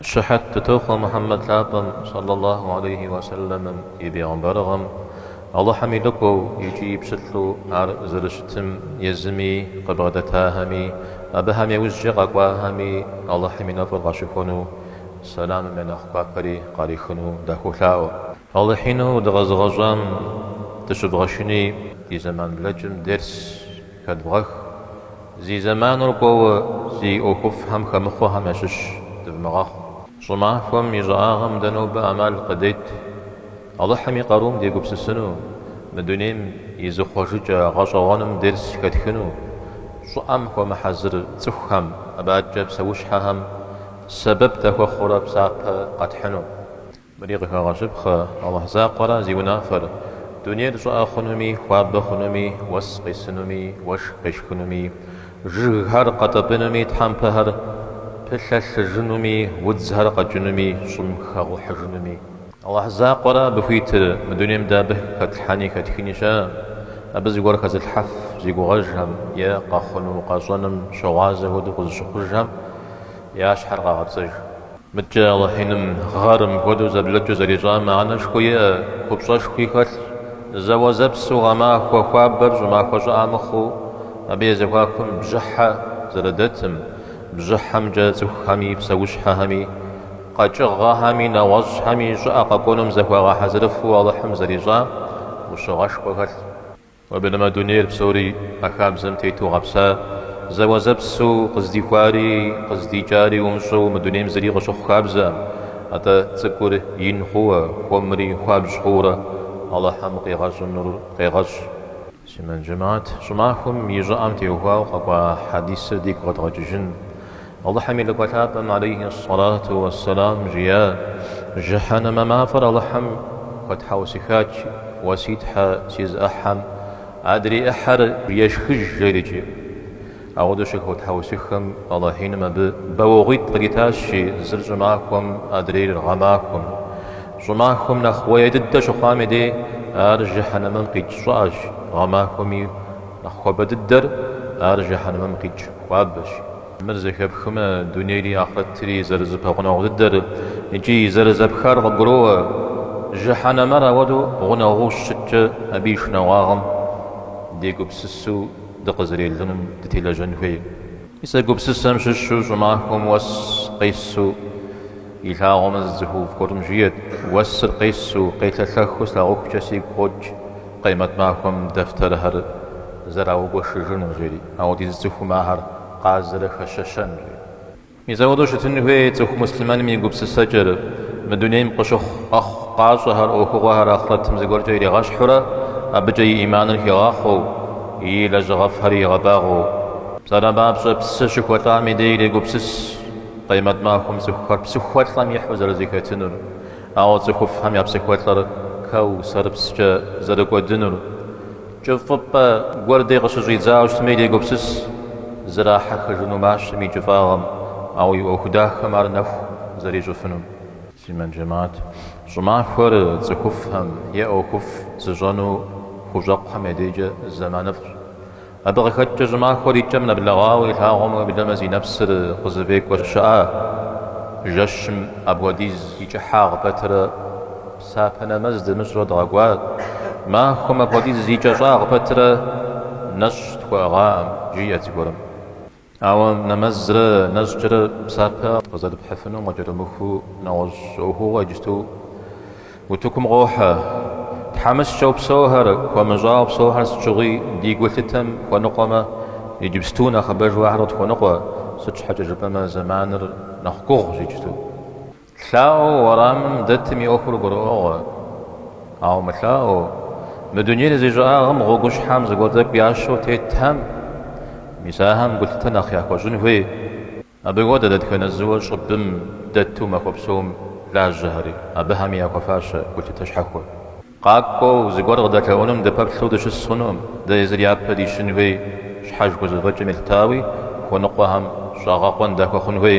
Щыхьэт дытохъуэ Мухьэммэд лъапӏэм сэллаллаху алейхи уэ сэллэмым и бегъымбарыгъэм, Алыхьым и лӏыкӏуэу икӏи пщылӏу ар зэрыщытым езыми къыбгъэдэтахэми, абыхэм я ужькӏэ къэкӏуахэми Алыхьым и нэфӏыр къащыхуэну, сэламым я нэхъ гуапэри къарихыну дахуолъаӏуэ. Алыхьину дыкъэзыгъэщӏам дыщывгъэшыни ди зэман блэкӏым дерс Хэдвгъэх. Зи зэманыр кӏуэуэ зи ӏуэхуфӏхэм хэмыхъуэхэм ящыщ дывмыгъэхъу. Щӏымахуэм и щӏыӏагъэм дэ нобэ ӏэмал къыдет Алыхьым и къарум дегупсысыну, мы дунейм и зыхъуэжыкӏэ гъэщӏэгъуэным дерс хэтхыну, щӏыӏэм хуэмыхьэзыр цӏыхухэм, абакӏэ псэущхьэхэм сэбэп дахуэхъурэ псапэ къэтхьыну. Мыри къыхэгъэщыпхъэ, Алыхь закъуэра зи унафэр, дунейр щӏыӏэ хъунуми, хуабэ хъунуми, уэс къисынуми, уэшх къешхынуми, жыгхэр къэтӏэпӏынуми, тхьэмпэхэр пылъэлъыжынуми, удзхэр къэкӏынуми, щӏым хэгъухьыжынуми. Алыхь закъуэра абы хуитыр, мы дунейм дэ абы хэтлъхьэни хэтхыни щыӏэ, абы зыгуэр хэзылъхьэф зи гугъэжхэм е къэхъуну-къэщӏэным щыгъуазэ хуэдэу къызыщыхъужхэм я щхьэр къагъэпцӏыж. Мыдкӏэ Алыхьиным гъэр мыпхуэдэу зэблэкӏыу зэрищӏам мыхьэнэшхуэ иӏэ, купщӏэшхуи хэлъ. Зэуэзэпсу гъэмахуэ хуабэр щӏымахуэ щӏыӏэ мыхъуу, абы я зэхуакум бжьыхьэ зэрыдэтым, бжьыхьэмкӏэ цӏыхухэми, псэущхьэхэми, къэкӏыгъэхэми, нэгъуэщӏхэми щӏыӏэ къэкӏуэнум зыхуагъэхьэзырыфу Алыхьым зэрищӏам ӏущыгъэшхуэ хэлъ. Уеблэмэ, дунейр псори а хабзэм тету гъэпса, зэуэзэпсу къыздихуари къыздикӏари умыщӏэу мы дунейм зыри къыщыхъу хабзэм. Атӏэ, цӏыкӏур ин хъууэ, хуэмри хуабжь хъуурэ Алыхьым къигъэщӏынур къегъэщӏ. Муслъымэн джэмаӏэт, щӏымахуэм и щӏыӏэм теухуауэ къэкӏуа хьэдисыр дигу къэдгъэкӏыжын. Алыхьым и Лӏыкӏуэ Лъапӏэм алейхи ссалату уэ сэлам жиӏа, Жыхьэнэмэ мафӏэр Алыхьым хуэтхьэусыхач, уэ си Тхьэ, си зы ӏыхьэм адрей ӏыхьэр ешхыж жерикӏи. Ауэдэу щыхуэтхьэусыхэм Алыхьиным абы бауэгъуитӏ къыритащи, зыр щӏымахуэм, адрейр гъэмахуэм. Щӏымахуэм нэхъ уэе дыдэ щыхъуам и дей ар Жыхьэнэмэм къикӏ щӏыӏэщ, гъэмахуэми, Нэхъ хуабэ дыдэр ар жыхьэнэмэм къикӏ хуабэщ. Мыр зэхэпхмэ, дунейри ахърэтри зэрызэпэгъунэгъу дыдэр икӏи зэрызэпхар къыбгуроӏуэ. Жыхьэнэмэр ауэдэу гъунэгъуу щыщыткӏэ, абы и шынагъуагъэм дегупсысу дыкъызэрелыным дытелэжьэн хуей. Мис а гупсысэм щыщу щӏымахуэм уэс къесу илъагъумэ зы цӏыхуфӏ гуэрым жиӏэт, уэсыр къесу, къелъэлъэхыу слъагъухукӏэ сигу къокӏ Къемэт махуэм дэфтэрхэр зэраугуэшыжыну, жери, ауэдизу цӏыхум ахэр къазэрыхэщэщэн, жери. Мис ауэдэу щытын хуей цӏыху муслъымэным и гупсысэкӏэр, мы дунейм къыщыхъу къэхъукъащӏэхэр, ӏуэхугъуэхэр ахърэтым зыгуэркӏэ иригъэщхьурэ, абыкӏэ и ӏиманыр хигъахъуэу, и лэжьыгъэфӏхэр игъэбагъуэу. Псалъэм папщӏэ псы щыхуэлӏам и дей ирегупсыс Къемэт махуэм цӏыхухэр псыхуэлӏэм ихьу зэрызэхэтынур, ауэ цӏыхуфӏхэм я псыхуэлӏэр Кэусэрыпскӏэ зэрыкӏуэдынур. Кӏыфӏыпӏэ гуэрдей къыщыщӏидзауэ щытми ирегупсыс зрахьэхыжыну мащэм и кӏыфӏагъым, ауэ и ӏуэху дахэм ар нэху зэрищӏыфынум. Муслъымэн жэмэӏэт, щӏымахуэр цӏыхуфӏхэм е ӏуэхуфӏ зыщӏэну хущӏэкъухэм я дежкӏэ зэманыфӏщ. Абы къыхэкӏкӏэ щӏымахуэр и кӏэм нэблэгъауэ илъагъумэ, уеблэмэ зи нэпсыр къызыфӏекӏуэр щыӏа? Жэщым апхуэдиз и кӏыхьагъ пэтырэ псапэ нэмэз дымыщӏурэ дгъэкӏуа? Махуэм апхуэдиз и кӏэщӏагъ пэтырэ нэщӏ тхуэӏыгъаӏым, жиӏэт зыгуэрым. Ауэ нэмэзрэ нэщӏкӏэрэ псапэ къызэрыпхьыфынум къыкӏэрымыхуу нэгъуэщӏ ӏуэхугъуэ иджыпсту утыкум къохьэ. Тхьэмыщкӏэу псэухэр, хуэмыщӏауэ псэухэр сыт щыгъуи ди гулъытэм хуэныкъуэмэ, иджыпсту нэхъыбэжу ахэр къытхуэныкъуэ, сыт щхьэкӏэ жыпӏэмэ зэманыр нэхъ гугъущ иджыпсту. Лъаӏуэу уэрамым дэтым и ӏуэхур гурыӏуэгъуэ. Ауэ мылъаӏуэу, мы дунейр зи щӏыӏагъым гъуэгущхьэм зыгуэр тӏэкӏу ящэу тетхэм, мис ахэм гулъытэ нэхъ яхуэщӏын хуей. Абы хуэдэ дэтхэнэ зыуэ щӏыбым дэту махуэ псом лажьэхэри, абыхэми яхуэфащэ гулъытэ щхьэхуэ. Къакӏуэу, зыгуэр къыдэлъэӏунум дыпэплъэу дыщыс хъунукъым, дэ езыр япэ дищын хуей, щхьэж хузэфӏэкӏым елъытауи, хуэныкъуэхэм щӏэгъэкъуэн дахуэхъун хуей.